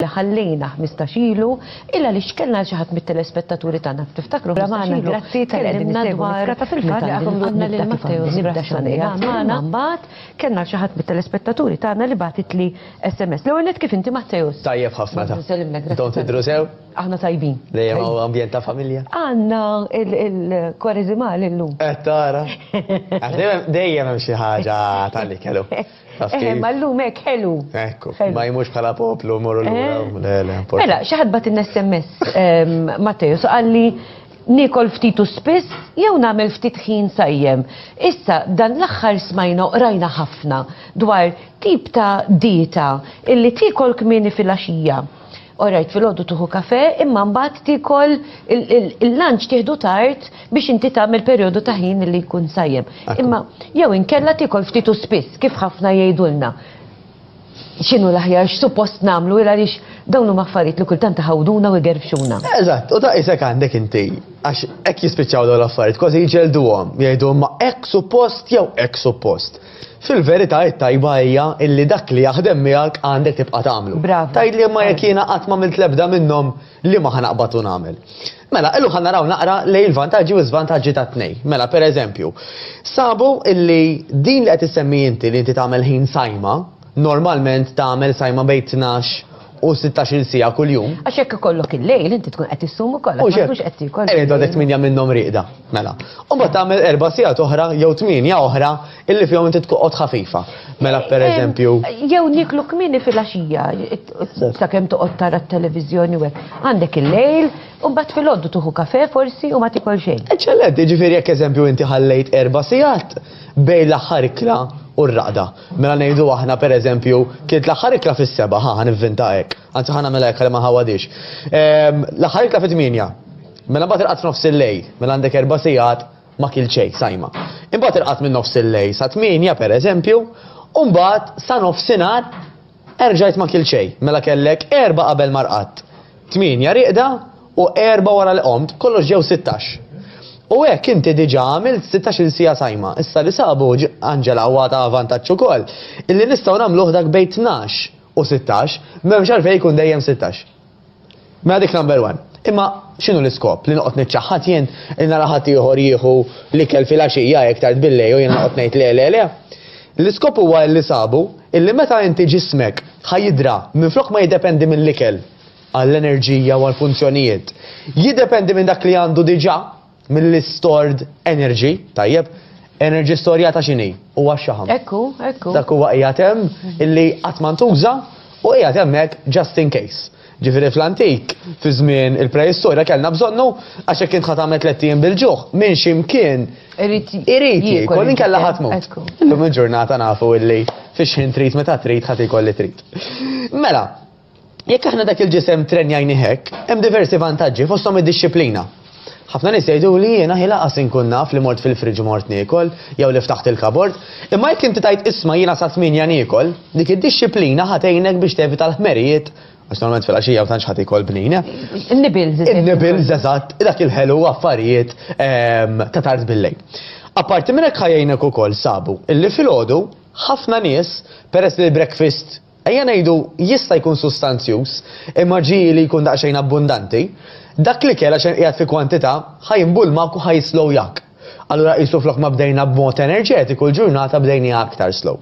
li ħallejna 15 ilu illa li xkellna xi ħadd mit-telespettaturi tagħna ftiftakru magħna grazzi tal-qedimna dwar ta' fil-fatt li għadhom għandna lil Matteo Zibrassani magħna mbagħad kellna xi ħadd mit-telespettaturi tagħna li bagħtitli SMS. L-ewwel kif inti Matteo? Tajjeb ħafna ta. Dawn tidru sew? Aħna tajbin. Dejjem hawn ambjent ta' familja. Għandna il-kwareżimal illum. Qed eh, tara. Dejjem hemm xi ħaġa tal-li kellu. Eh, ma llum hekk ħelu. Ekku, ma jmux bħala poplu morru l eh. Mela, xi ħadd bat in-SMS ehm, Matteus qalli nikol ftit u spiss jew nagħmel ftit ħin sajjem. Issa dan l-aħħar smajna qrajna ħafna dwar tip ta' dieta illi tikol kmieni fil-għaxija Orajt fil-ħodu tuħu kafe, imma mbagħad tikol il-lunch tieħdu tard biex inti tagħmel perjodu ta' ħin li jkun sajjem. Imma jew inkella tikol ftit u spiss kif ħafna jgħidulna. X'inhu l-aħjar x'suppost nagħmlu il għaliex dawn huma affarijiet li kultant iħawduna u jgerfxuna. Eżatt, u ta' isek għandek inti għax hekk jispiċċaw dawn l-affarijiet kważi jġelduhom, jgħidu ma hekk suppost jew hekk suppost. Fil-verità it-tajba hija illi dak li jaħdem miegħek għandek tibqa' tagħmlu. Bravu. Tgħidli imma jekk jiena qatt m'għamilt l-ebda minnhom liema ħa naqbad u nagħmel? Mela, illum ħa naraw naqra lejn il-vantaġġi u l-żvantaġġi tat-tnejn. Mela, pereżempju, sabu illi din li qed issemmi inti li inti tagħmel ħin sajma, normalment tagħmel sajma bejn tnax u sittax-il siegħa kuljum. Għax jekk ikollok il-lejl inti tkun qed issum ukoll għax ma tkunx qed tiekol. Qiegħed għadek tmienja minnhom rieqda, mela. U mbagħad tagħmel erba' sigħat oħra jew tmienja oħra illi fihom inti tqgħod ħafifa. Mela pereżempju. Jew nieklu kmieni filgħaxija sakemm toqgħod tara t-televiżjoni u hekk. Għandek il-lejl u mbagħad filgħodu tieħu kafè forsi u ma tiekol xejn. Eċċellenti, jiġifieri jekk eżempju inti ħallejt erba' sigħat bejn l-aħħar ikla u r-raqda. Mela ngħidu aħna pereżempju, kienet l-aħħar ikla fis-seba', ħa nivvinta hekk, anzi ħa nagħmilha hekk li ma ħawadix. Ehm, l-aħħar ikla fit-tmienja. Mela mbagħad irqad f'nofs il-lej, mela għandek erba' sigħat ma kil xejn sajma. Imbagħad irqad minn nofs il-lej sa tmienja pereżempju, u mbagħad sa nofsinhar Erġajt ma kilt xejn, mela kellek erbgħa qabel ma rqadt, tmienja rieqda u erbgħa wara li qomt, kollox ġew sittax. U hekk inti diġà għamilt sittax-il siegħa sajma. Issa li sabu, Angela, huwa ta' vantaġġ ukoll, illi nistgħu nagħmluh dak bejn tnax u sittax, m'hemmx għalfejn ikun dejjem sittax. Mela dik number one. Imma x'inhu l-iskop li noqgħod niċċaħħad jien li nara ħadd ieħor jieħu l-ikel filgħaxija hekk tard billejl u jien noqgħod ngħid le le le. L-iskop huwa li sabu illi meta inti ġismek ħa jidra minflok ma jiddependi mill-ikel għall-enerġija u għall-funzjonijiet, jiddependi minn dak li għandu diġà Mill-stored energy, tajjeb, energy storjata xini, u għaxħam. Ekku, ekku. Dak huwa qiegħed hemm illi qatt ma ntuża u qiegħed hemmhekk just in case. Ġifieri fl-antik, fi żmien il-preistorja kellna bżonnu għax hekk int ħatamet tliet ijiem bil-ġuħ minn x'imkien irid jiekol inkella ħadd mod. Illum il-ġurnata nafu illi fix-xħin trid meta trid ħadd ikol li trid. Mela, Jekk aħna dak il-ġisem trenjajnih hekk, hemm diversi vantaġġi fosthom id-dixxiplina. Ħafna nies jgħiduli jiena hi laqas inkun naf li mort fil-fridge u mort niekol, jew li ftaħt il-kabord, imma jekk inti tgħid isma' jiena sa tmienja niekol, dik id-dixxiplina ħa tgħinek biex tevita l-ħmerijiet, għax normalment filgħaxija ma tantx ħadd ikol bnin. In-nibbles. In-nibbles, eżatt, dak il-ħelu u affarijiet ta' tard bil-lejl. Apparti minn hekk ħa jgħinek ukoll, sabu, illi filgħodu ħafna nies, peress li l-breakfast Ejja ngħidu, jista' jkun sustanzjuż, imma ġie li jkun daqsxejn abbundanti. Dak l-ikel, għax qed qiegħed fi kwantità, ħa jinbulmak u ħa jislow jak. Allura qisu flok ma bdejna b'mod enerġetiku, l-ġurnata bdejniha aktar slow.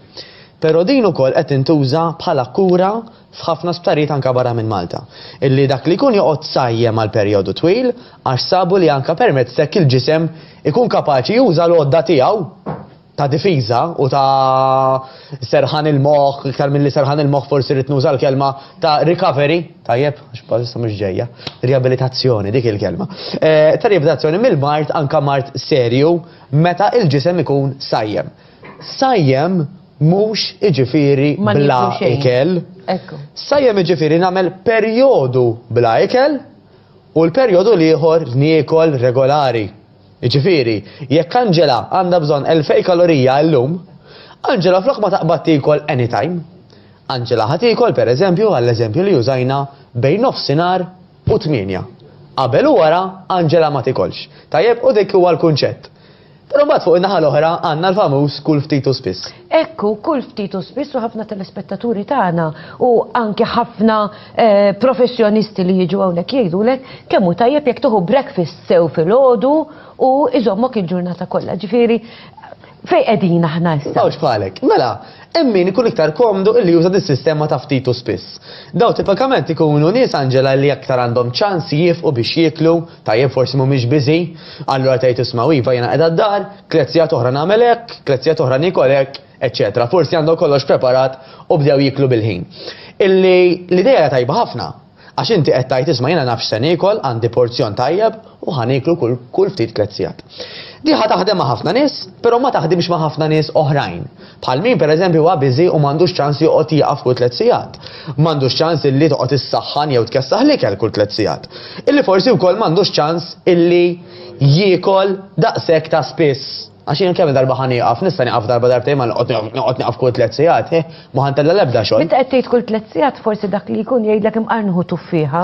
Però din ukoll qed tintuża bħala kura f'ħafna sptarijiet anke barra minn Malta, illi dak li jkun joqgħod sajjem għal perjodu twil, għax sabu li anke permezz t'hekk il-ġisem ikun kapaċi juża l-għodda tiegħu. ta' difiża u ta' serħan il-moħħ, iktar milli serħan il-moħħ forsi rrid nuża l-kelma ta' recovery, tajjeb, għax mhux ġejja, riabilitazzjoni dik il-kelma. Eh, ta' riabilitazzjoni mill-mart anka mart serju meta il-ġisem ikun sajjem. Sajjem mhux iġifieri bla ikel. Sajjem iġifieri nagħmel perjodu bla ikel u l-perjodu l-ieħor niekol regolari. Jiġifieri, jekk Angela għandha bżonn elfej kalorija illum, Angela flok ma taqbad tiekol anytime, Angela ħa tiekol, per eżempju, għall-eżempju li użajna, bejn nofsinhar u tmienja. Qabel u wara, Angela ma tiekolx. Tajjeb? U dik huwa l-kunċett. Però mbagħad fuq in-naħa l-oħra għandna l-famuż kull ftit u spiss. Hekk hu kull ftit u spiss u ħafna telespettaturi tagħna u anke ħafna eh, professjonisti li jiġu hawnhekk jgħidulek kemm hu tajjeb jekk tieħu breakfast sew filgħodu u iżommok il-ġurnata kollha. Ġifieri fejn qegħdin aħna issa. Mawġ bħalek. Mela, hemm min ikun iktar komdu illi juża dis-sistema ta' ftit u spiss. Daw tipikament ikunu nies Anġela li aktar għandhom ċans jifqu biex jieklu Tajjeb, forsi mhumiex biżi'. Allura tgħid isma' iva jiena qiegħda d-dar, tliet sigħat oħra nagħmel hekk, tliet sigħat oħra niekol hekk, eċċetera. Forsi għandhom kollox preparat u bdew jieklu bil-ħin. Illi l-idea hija tajba ħafna. Għax inti qed tgħid isma' jiena naf x'se niekol, għandi porzjon tajjeb u ħa nieklu kull kull ftit tliet sigħat. Din ħa taħdem ma' ħafna nies, però ma taħdimx ma' ħafna nies oħrajn. Bħal min pereżempju huwa biżi u m'għandux ċans joqgħod jieqaf kull tliet sigħat. M'għandux ċans illi toqgħod issaħħan jew tkessaħ l-ikel kull tliet sigħat. Illi forsi wkoll m'għandux ċans illi jiekol daqshekk ta' spiss. Għax jien kemm-il darba ħa nieqaf? Nista' nieqaf darba darbtejn ma noqgħod nieqaf kull tliet sigħat. Hi, ma ħa ntella' l-ebda xogħol. Meta qed tgħid kull tliet sigħat forsi dak li jkun jgħidlek imqar nieħu tuffieħa.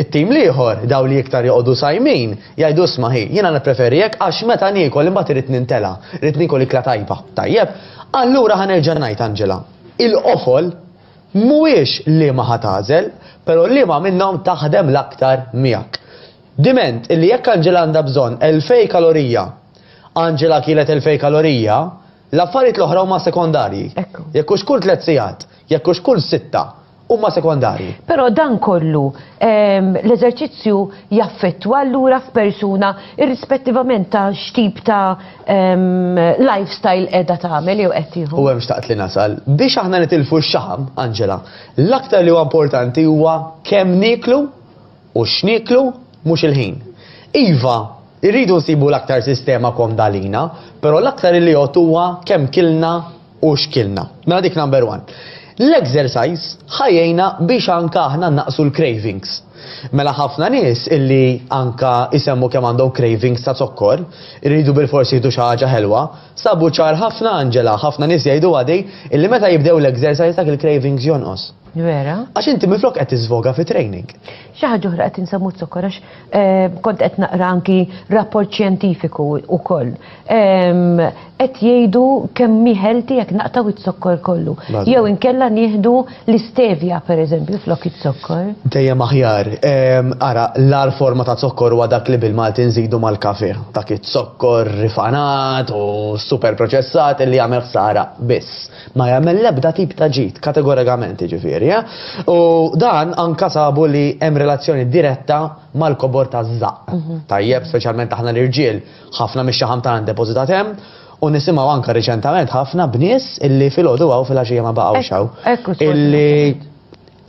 It-tim l-ieħor, dawn li iktar joqogħdu sajmin, jgħidu isma' hi, jiena nippreferi hekk għax meta niekol imbagħad irid nintela', rrid niekol ikla tajba. Tajjeb, allura ħa nerġa' ngħid Angela, il-qofol mhuwiex liema ħa tagħżel, però liema minnhom taħdem l-aktar miegħek. Diment illi jekk Angela għandha bżonn elfej kalorija, Angela kielet elfej kalorija, L-affarijiet l-oħra huma sekondarji. Ekku. Jekk hux kull tliet sigħat, jekk hux kull sitta, huma sekondarji. Però dan kollu ehm, l-eżerċizzju jaffettwa allura f'persuna irrispettivament ta' x'tip ta' ehm, lifestyle qiegħda tagħmel jew qed tieħu. U hemm xtaqt li nasal, biex aħna nitilfu x-xaħam, Angela, l-aktar li huwa importanti huwa kemm nieklu U x'nieklu? Mhux il-ħin. Iva, irridu nsibu l-aktar sistema komda għalina, però l-aktar il-jott huwa kemm kilna u x'kilna. Mela dik number one. L-exercise ħa jgħinna biex anke aħna nnaqqsu l-cravings. Mela ħafna nies illi anke jsemmu kemm għandhom cravings ta' zokkor, iridu bilfors jieħdu xi ħaġa ħelwa, sabu ċar ħafna Angela, ħafna nies jgħiduha di, illi meta jibdew l-exercise dak il-cravings jonqos. Vera? Għax inti minflok qed tiżvoga fi training. Xi ħaġa oħra qed insemmu zokkor għax eh, kont qed naqra anki rapport xjentifiku wkoll. Ehm, qed jgħidu kemm miħelti jekk naqtaw it-zokkor kollu. Jew inkella nieħdu l-istevja pereżempju flok it-zokkor. Dejjem aħjar. Ehm, ara, l-ar forma ta' zokkor huwa dak li bil-Malti nżidu mal-kafe. Dak it-zokkor rifanat u super proċessat li jagħmel ħsara biss. Ma jagħmel l-ebda tip ta' ġid, kategorikament jiġifieri, u dan anke sabu li hemm relazzjoni diretta mal-kobor taż-żaqq. Tajjeb, speċjalment aħna l-irġiel, ħafna mix-xaħam tagħna ndepożitat hemm, u nisimgħu anke riċentament ħafna b'nies illi filgħodu hawn filgħaxija ma baqgħux hawn. Illi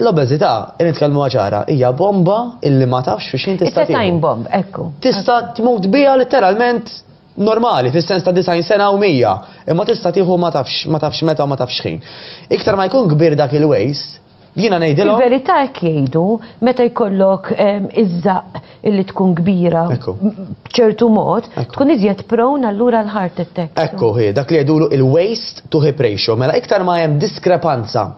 l-obeżità, nitkellmuha ċara, hija bomba illi ma tafx fi x'ħin tista' tieħu. It's a time bomb, ekku. Tista' tmut biha letteralment normali, fis-sens ta' disgħin sena u mija, imma tista' tieħu ma tafx ma tafx meta u ma tafx x'ħin. Iktar ma jkun kbir dak il-waste, jiena ngħidilhom. Fil-verità hekk jgħidu, meta jkollok iż-żaqq illi tkun kbira b'ċertu mod, tkun iżjed prone allura għal heart attacks. Ekku hi, dak li jgħidulu il-waste to hip ratio. Mela iktar ma hemm diskrepanza,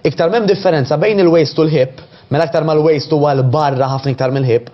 iktar m'hemm differenza bejn il-waste u l-hip, mela iktar ma l-waste huwa 'l barra ħafna iktar mill-hip,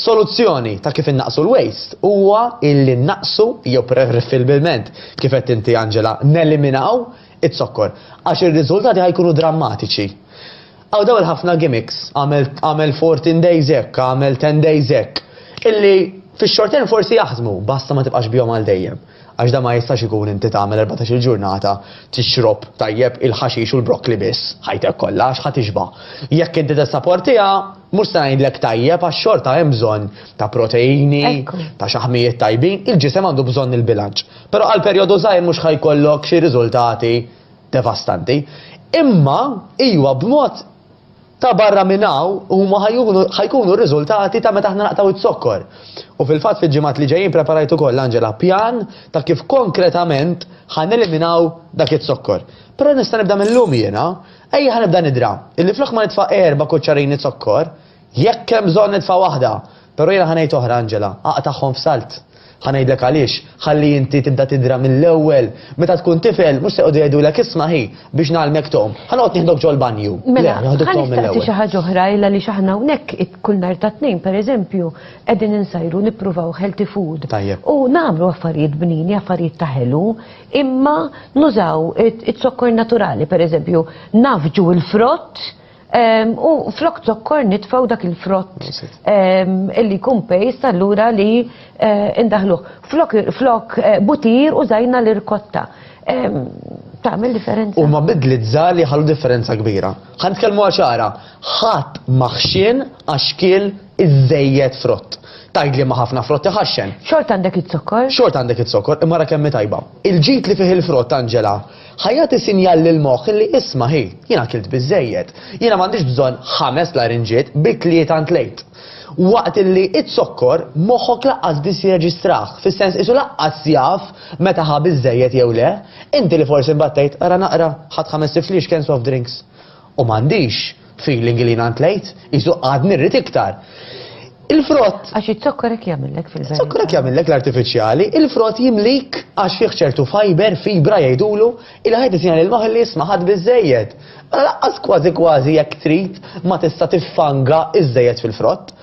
Soluzzjoni ta' kif innaqqsu l-waste huwa illi nnaqqsu jew preferibilment, kif għedt inti Angela, neliminaw iz-zokkor, għax ir-riżultati ħa jkunu drammatiċi. Hawn dawn il-ħafna gimmicks, agħmel agħmel 14 days hekk, agħmel 10 days hekk, illi fix-short term forsi jaħdmu, basta ma tibqax bihom għal dejjem. Għax dan ma jistax ikun inti tagħmel erbatax-il ġurnata tixrob, tajjeb, il-ħaxix u l-brokkli biss, ħajtek kollha, għax ħa tixba'. Jekk inti tessaportiha, Mhux se ngħidlek tajjeb għax xorta hemm bżonn ta' proteini, ta' xaħmijiet tajbin, il-ġisem għandu bżonn il-bilanċ. Però għal perjodu żgħir mhux ħa jkollok xi riżultati devastanti. Imma iwa b'mod ta' barra minn hawn huma ħa jkunu r-riżultati ta' meta aħna naqtgħu z-zokkor. U fil-fatt fil-ġimgħat li ġejjin preparajt ukoll Angela pjan ta' kif konkretament ħa neliminaw dak iz-zokkor. Però nista' nibda mil-lum jiena, Ejja ħa nibda nidra, illi flok ma nitfa' erba' kuċċarini zokkor, jekk hemm bżonn nitfa' waħda, però jiena ħa ngħid oħra Angela, aqtagħhom f'salt. Ħa ngħidlek għaliex, ħalli inti tibda tidra mill-ewwel. Meta tkun tifel, mhux se jqogħdu jgħidulek isma' hi, biex ngħallmek tgħum, ħa noqgħod nieħdok ġol-banju. Mela, ħa nistaqsi xi ħaġa oħra illa li x'aħna hawnhekk kull nhar ta' Tnejn pereżempju qegħdin insajru nippruvaw healthy food. Tajjeb. U nagħmlu affarijiet bnini, affarijiet ta' ħelu, imma nużaw it-zokkor naturali, per eżempju, nafġu il-frott ehm, u flok zokkor nitfaw dak il-frott ehm, illi kun pejst allura li eh, indaħluħ. Flok, flok eh, butir u zajna l-irkotta. Ehm, Tamil differenza. U ma bidli t-zali ħallu differenza kbira. Għan t-kelmu għaxara, ħat maħxin għaxkil iżżejjed frott. Tgħid li ma ħafna frott iħaxxen. Xorta għandek iz-zokkor? Xorta għandek iz-zokkor, imma ara kemm hi tajba. Il-ġid li fih il-frott, Angela, ħa jagħti sinjal lill-moħħ li isma' hi, jien akilt biżżejjed. Jiena m'għandix bżonn ħames larinġiet, bi tlieta ntlejt. Waqt li iz-zokkor, moħħok laqqas biss jirreġistrah, fis-sens qisu laqqas jaf meta ħa biżżejjed jew le. Inti li forsi mbattejt, ara naqra, ħadt ħames tifliex cans of drinks. U m'għandix feeling li jiena ntlejt, qisu għadni rrid iktar. Il-frott. Għax iż-zokkor hekk jagħmillek fil-verità. Iż-zokkor hekk jagħmillek l-artifiċjali, il-frott jimlik għax fih ċertu fiber, fibra jgħidulu, ilha ħajt isinha lil maħli isma' ħadd biżżejjed. Mela laqqas kważi kważi jekk trid ma tista' tiffanga iżżejjed fil-frott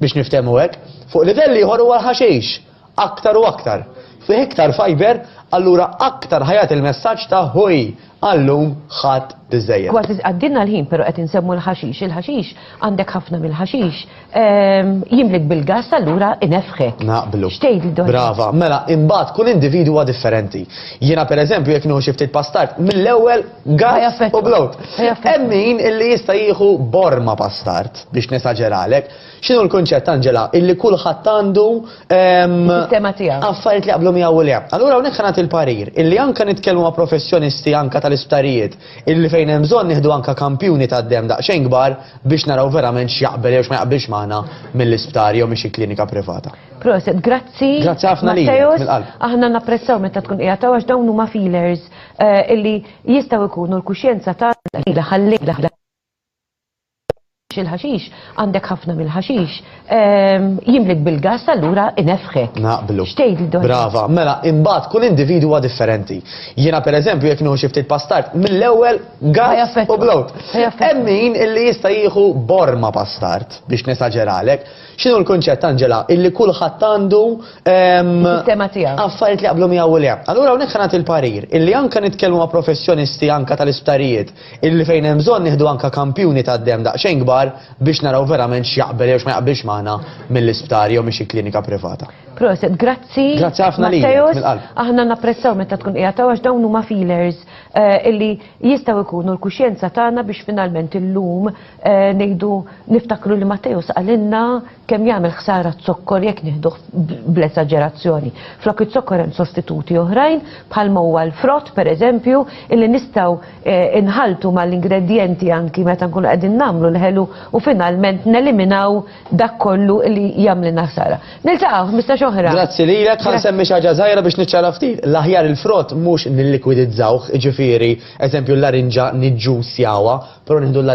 biex niftehmu hekk. Fuq livell ieħor huwa l-ħaxix. aktar u aktar, fih iktar fajber, allura aktar ħa jagħti l-messaġġ ta' ħuj, għal-lum ħadt biżżejjed. Kważi għaddielna l-ħin pero qed insemmu l-ħaxix, il-ħaxix, għandek ħafna mill-ħaxix, jimlik bil-gass allura inefħek. Naqblu. X'tgħidli dwar dan? Brava, mela imbagħad kull individwu huwa differenti. Jiena pereżempju jekk nieħu xi ftit pastard, mill-ewwel gass u blowt. Hemm min illi jista' jieħu borma pastard biex nesaġeralek. X'inhu l-kunċett, Angela? Illi kulħadd għandu Is-sistema tiegħu. affarijiet li jaqblu miegħu u le. Allura hawnhekk ħa nagħti l-parir illi anke nitkellmu ma' professjonisti anke tal-isptarijiet illi fejn hemm bżonn nieħdu anke kampjuni tad-demm daqsxejn kbar biex naraw verament x'jaqbel jew x'ma jaqbilx magħna mill-isptar jew minn xi klinika privata. Proset, grazzi. Grazzi ħafna lilek, Matteos. mill-qalb. Aħna napprezzaw meta tkun qiegħed hawn għax dawn huma feelers eh, illi jistgħu jkunu l-kuxjenza tagħna lejla ħal-lejla. il-ħaxix, għandek ħafna mill-ħaxix, jimlik bil-gass allura inefħek. Naqblu. X'tgħidli dwar? Brava, mela imbagħad kull individwu huwa differenti. Jiena pereżempju jekk nieħu xi ftit pastard, mill-ewwel gass u blowt. Hemm min illi jista' jieħu borma pastard biex nesaġeralek. X'inhu l-kunċett Angela illi kulħadd għandu Sistema tiegħu. affarijiet li jaqblu miegħu u le. Allura hawnhekk ħa nagħti l-parir illi anke nitkellmu ma' professjonisti anke tal-isptarijiet Illi fejn hemm bżonn nieħdu anke kampjuni tad-demm daqsxejn kbar biex naraw verament x'jaqbel jew x'ma jaqbilx magħna mill-isptar jew minn xi klinika privata. Proset, grazzi. Grazzi ħafna lilek, Matteus. mill-qalb. Aħna napprezzaw meta tkun qiegħed hawn għax dawn huma feelers eh, illi jistgħu jkunu l-kuxjenza tagħna biex finalment illum eh, ngħidu niftakru li Matteus qalilna Kemm jagħmel ħsara z-zokkor jekk nieħduh bl-esaġerazzjoni. Flok iz-zokkor hemm sostituti oħrajn, bħalma huwa l-frott pereżempju, illi nistgħu nħalltu mal-ingredjenti anki meta nkunu qegħdin nagħmlu l-ħelu u finalment neliminaw dak kollu li jagħmlilna ħsara. Niltaqgħu ħmistax oħra. Grazzi lilek. Ħa nsemmi xi ħaġa żgħira biex niċċara ftit. L-aħjar il-frott mhux nillikwidizzawh, jiġifieri, eżempju, l-larinġa niġġussjawha, però nieħdu l-larinġa